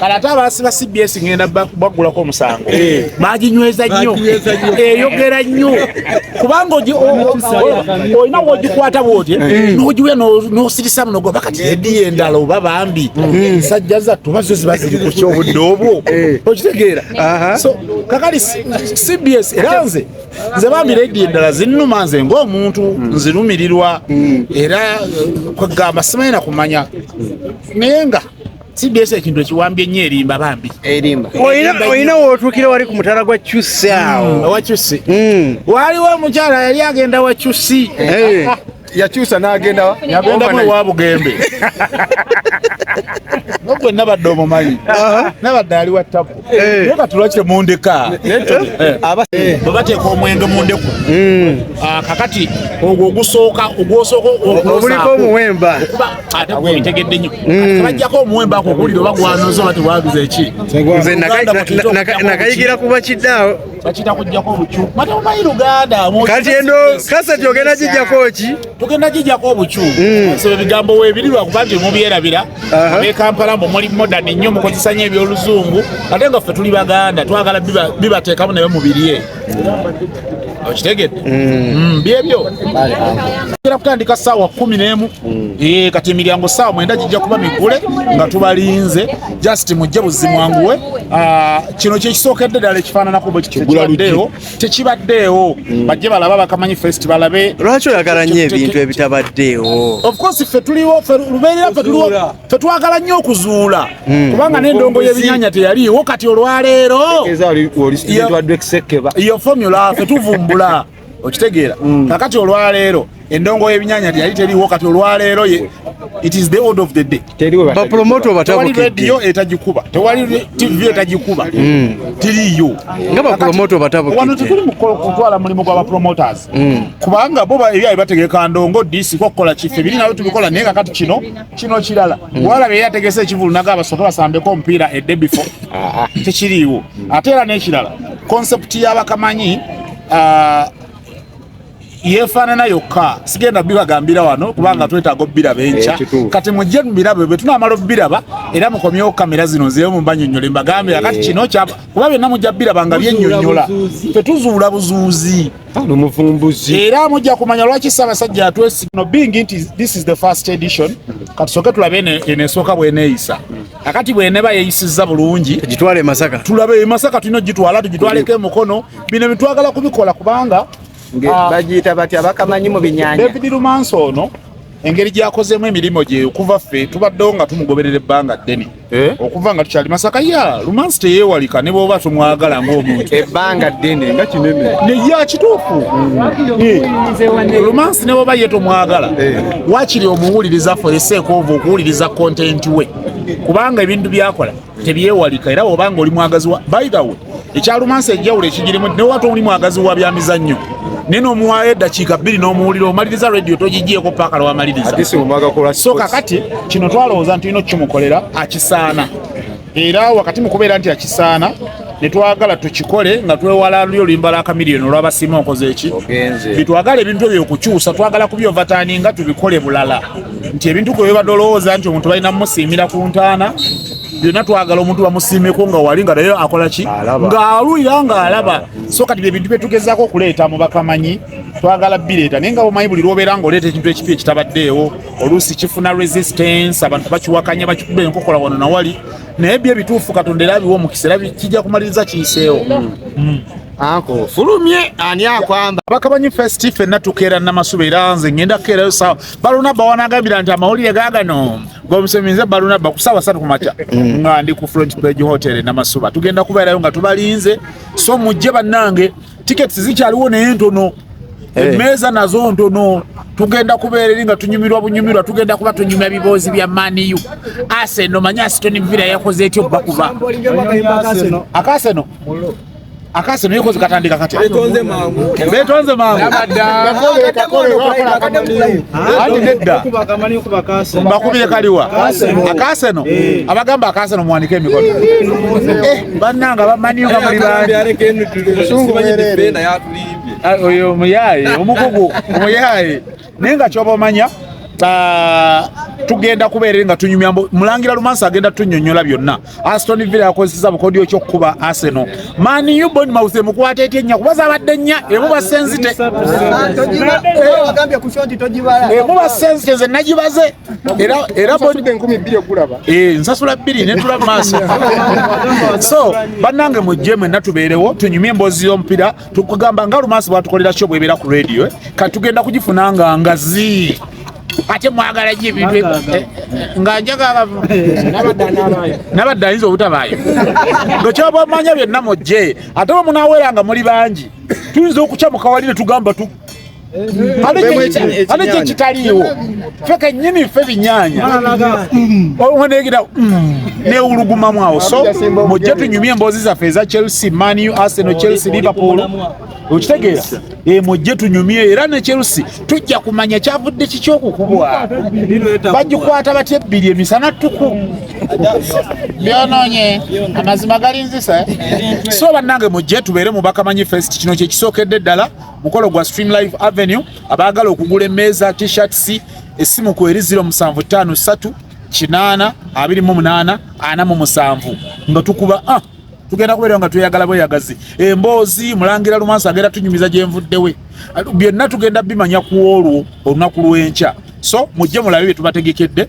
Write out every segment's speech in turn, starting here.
kale ate abaasiba cbs ngenda baggulako omusango baginyweza nnyo eyogera nnyo kubanga olina wogikwata bwoti nogiwe nosirisa muno goba kati ediyo endala oba bambi sajja zattu bazo ziba ziri ku kyobudde obwo okitegeera kakali cbs era nze nze bambi ledi endala zinnuma nze ngaomuntu hmm. nzirumirirwa hmm. era eh, kwegamba simanyi nakumanya naye nga sideesa ekintu ekiwambye nnyo erimba bambi olina wotuukira wali ku mutala gwa cusi awo hmm, wacusi waliwo omukyala yali agenda wacusi eh. yakyusa n'agenda yagenda mu wa bugembe nogwe nabadde omumanyi nabadde ali wa tapu eh. naye katula kye mundeka eh. eh. bwe bateeka omwenge mu ndeku hmm. ah, kakati ogwo ogusooka ogwosooka oguliko omuwemba ate gwebitegedde nyo hmm. bajjako omuwemba ako oguwulira oba gwanoza oba tebwaguza eki nze nakayigira kuba kiddaawo bakita kujjako obucu mata mumanyi luganda kati eno kaseti ogenda gijjako ki tugenda gijjako obucu hmm. so ebigambo webiri lwakuba nti mubyerabira abekampala mbu muli modani nnyo mukozesa nyo ebyoluzungu ate nga ffe tuli baganda twagala bibateekamu naye mubirye okitegedde hmm. Hmm, byebyo era kutandika saawa kumi nemu eh, kati emiryango saawa mwenda gijja kuba migule nga tubalinze just mujje buzimwanguwe ah, kino kyekisookedde ddala ekifaananako bwekibaddeewo tekibaddeewo mm. bajje balaba bakamanyi fest balabe lwaki oyagala nnyo ebintu ebitabaddeewo ofcourse ffe tuliwo lubeerera ffe tuliwo ffe twagala nnyo okuzuula mm. kubanga n'endongo y'ebinyanya teyaliiwo kati olwaleero yo formula ffe tuvumbula okitegeera mm. kakati olwaleero endongo y'ebinyanya teyali teriwo kati olwaleero ye it is the order of the day bapromoto batabukidde tewali radio etagikuba tewali tv etagikuba mm. tiriyo nga bapromoto batabukidde wano tekuli mukolo kutwala mulimu gwa bapromoters mm. kubanga bo ebyayi bategeka ndongo disi kokukola kife biri nabyo tubikola naye kakati kino kino kirala mm. wala bye yategese ekivulu naga abasoke basambeko omupiira edde before ah, ah. tekiriiwo ate era n'ekirala concept y'abakamanyi ah, yefaanana yokka sigenda bibagambira wano kubanga twetaaga obiraba enkya eh, kati mujje mubirabe bwe tunamala obiraba era mukomyewo kamera zino nzeyo mumbanyonyole mbagambira kati eh. kino kyaba kuba byonna mujja biraba nga byenyonyola tetuzuula buzuuzi omuvumbuzi era mujja kumanya lwaki ssaabasajja yatwesigno being nti this is the first edition kati soke tulabe enesooka bweneeyisa Akati bweneba yeyisiza bulungi tugitwale Masaka, tulabe e Masaka tulina ogitwala tugitwaleko emukono. Bino bitwagala kubikola kubanga ah, bagiyita batya bakamanyi mu binyanya. David Lumansi ono engeri gyakozeemu emirimu gye okuva ffe tubaddewo nga tumugoberera ebbanga ddene eh? okuva nga tukyali masaka ya lumansi teyeewalika ne bwoba tumwagala ng'omuntu ebbanga ddene nga kinene naye akituufu hmm. eh. lumansi ne bwoba ye tomwagala eh. wakiri omuwuliriza foreseeka ova okuwuliriza kontenti we kubanga ebintu byakola tebyewalika era obanga oli mwagazi wa bayidawe ekyalumansi enjawulo ekigirimu newata oli mwagazi wa byamizannyo naye nomuwaayo eddakiika bbiri n'omuwulira omaliriza radio togigyeko paaka lwamaliriza so kakati kino twalowooza nti olina okukimukolera akisaana era wakati mu kubeera nti akisaana netwagala tukikole nga twewala luli oluyimba lwa kamiliyoni olwabasiima okoze eki bitwagala ebintu ebyo okukyusa twagala kubyovataani nga tubikole bulala nti ebintu kwe bibadde olowooza nti omuntu balina mumusiimira ku ntaana byonna twagala omuntu bamusiimeko nga wali nga naye akola ki ng'alwira ng'alaba so kati bye bintu byetugezaako okuleeta mu bakamanyi twagala bireeta naye nga bumanyi buli lwobeera ng'oleeta ekintu ekipi ekitabaddeewo oluusi kifuna resistance abantu bakiwakanya bakikuba enkokola wano nawali naye byo ebituufu katonda era abiwa omukisa era kijja kumaliriza kiyiseewo mm. mm. anko fulumye ani akwamba bakabanyi festi fenna tukeera namasuba era nze ngenda kukeerayo sawa baluna bawanagambira nti amawulire gagano gomuseminze baluna bakusawa satu kumakya mm. nga ndi ku front page hotel namasuba tugenda kubeerayo nga tubalinze so mujje bannange tickets zikyaliwo naye ntono eh. emmeeza nazo ntono tugenda kubeera eri nga tunyumirwa bunyumirwa tugenda kuba tunyumya biboozi bya maniu aseno manye asitoni vira yakoze etyo bba kuba akaseno akaseno yekoze katandika kati betonze mangu betonze mangu ati nedda bakubire kaliwa akaseno eh. abagamba akaseno muwanike emikono eh. bannanga bamanyi nga muli banioyo ah, omuyaye omukugu omuyaye naye nga kyoba omanya ah, tugenda kubeere nga tunyumya mulangira lumansa agenda tunyonyola byonna aston villa yakozeseza bukodyo kyokukuba arsenal man u bon mause mukwata etya ennya kuba zabadde nnya emubasenzite emubasenzite nze nagibaze era era bodde enkumi bbiri okulaba eh, nsasula bbiri netula maaso so bannange mujje mwenna tubeerewo tunyumye emboozi y'omupiira tukugamba nga lumaasi bwatukolera kyo bwebeera ku radio eh? kati tugenda kugifuna nga ngazi ate mwagala gye ebintu eh, eh, nga njagala nabadde ayinza obutabaayo nga kyoba omanya byonna mujje ate bwe munaweera nga muli bangi tuyinza okukya mukawalire tugamba ate kye kitaliiwo fe kennyini fe binyaanya onegira mm, newulugumamu awo so mujje tunyumye emboozi zaffe eza chelsea manu arsenal chelsea liverpool okitegeera eh, mujje tunyumye era ne chelsea tujja kumanya kyavudde kiki okukubwa bagikwata batya ebbiri emisana ttuku byonoonye amazima galinzisa eh? so bannange mujje tubeere mubakamanyi fest kino kyekisookedde ddala mukolo gwa stream live avenue abaagala okugula emmeeza tshirts essimu ku eri 0753 kinaana abiri mu munaana ana mu musanvu nga tukuba ah, tugenda kubeera nga tweyagala bweyagazi emboozi mulangira lumansi agenda tunyumiza gyenvuddewe byonna tugenda bimanya ku olwo olunaku lw'enkya so mujje mulabe bye tubategekedde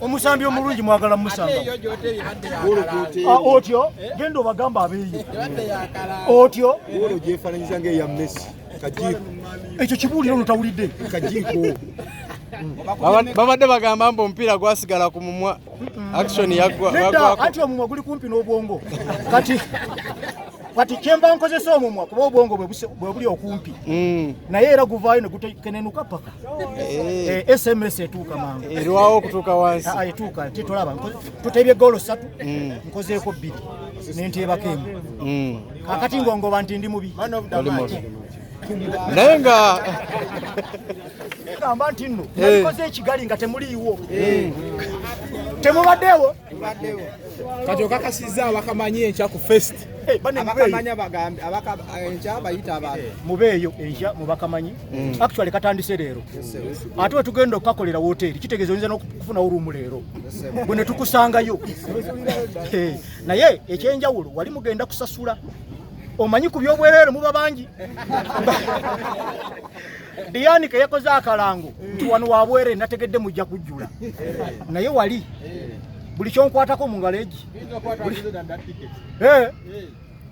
omusambi omulungi mwagala musanga ah, otyo eh? genda obagamba abeeyo otyo gyefananyiza nga eya messi kajiiko ekyo kibuuliro ono tawulidde kajiiko babadde bagamba mbu omupiira gwasigala ku mumwa action yagwati omumwa guli kumpi n'obwongo kati kati kyemba nkozesa omumwa kuba obwongo bwe buli okumpi mm. naye era guvaayo ne gutekenenuka paka Eh, eh, sms etuuka mangu erwawo eh, okutuuka wansi ah, etuuka titolaba tutebye goolo ssatu mm. nkozeeko bbiri nenteebako emu mm. kakati ngongoba nti ndi mubi naye nga gamba nti nno nalikoze ekigali nga temuliiwo temubaddeewo kati okakasizza abakamanyi enkya ku fest abakamanya bagambe enkya bayita abantu mubeeyo enkya mubakamanyi mm. actually katandise leero ate wetugenda okukakolera woteeri kitegeeza oyinza nokufunawo ruumu leero bwe netukusangayo eh, naye ekyenjawulo wali mugenda kusasula omanyi ku byobwereere muba bangi diani keyakoze akalango nti wano wabwere nategedde mujja kujjula naye wali buli kyonkwatako mu ngalo egi eh.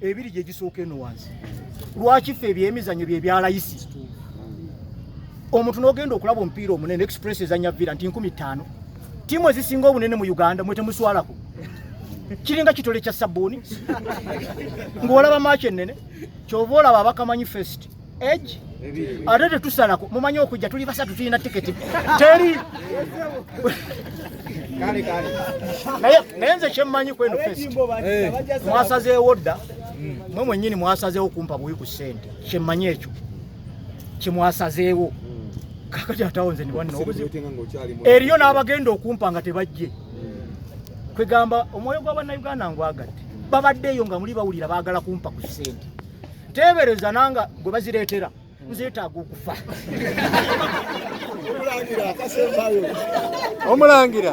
ebiri gye gisooka eno wansi lwaki ffe ebyemizanyo bye byalayisi omuntu n'ogenda okulaba omupiira omunene express ezanya vira nti nkumi ttaano tiimu ezisinga obunene mu uganda mwe temuswalako kiringa kitole kya sabbuuni ng'olaba maaki ennene kyova olaba abakamanyi fest age ate tetusalako mumanyi okujja tuli basatu tulina tiketi teri naye nze kyemmanyi kweno fest eh. mwasazeewo dda hmm. mwe mwennyini mwasazeewo kumpa buwi ku sente kyemmanyi ekyo kyemwasazeewo hmm. kakati atawo nze niwannobuzibu eriyo n'abagenda okumpa nga tebajje hmm. kwegamba omwoyo gwa bannayuganda ngwagadde babaddeeyo nga muli bawulira baagala kumpa ku sente teebereza nanga gwe bazireetera nzeetaaga okufa omulangira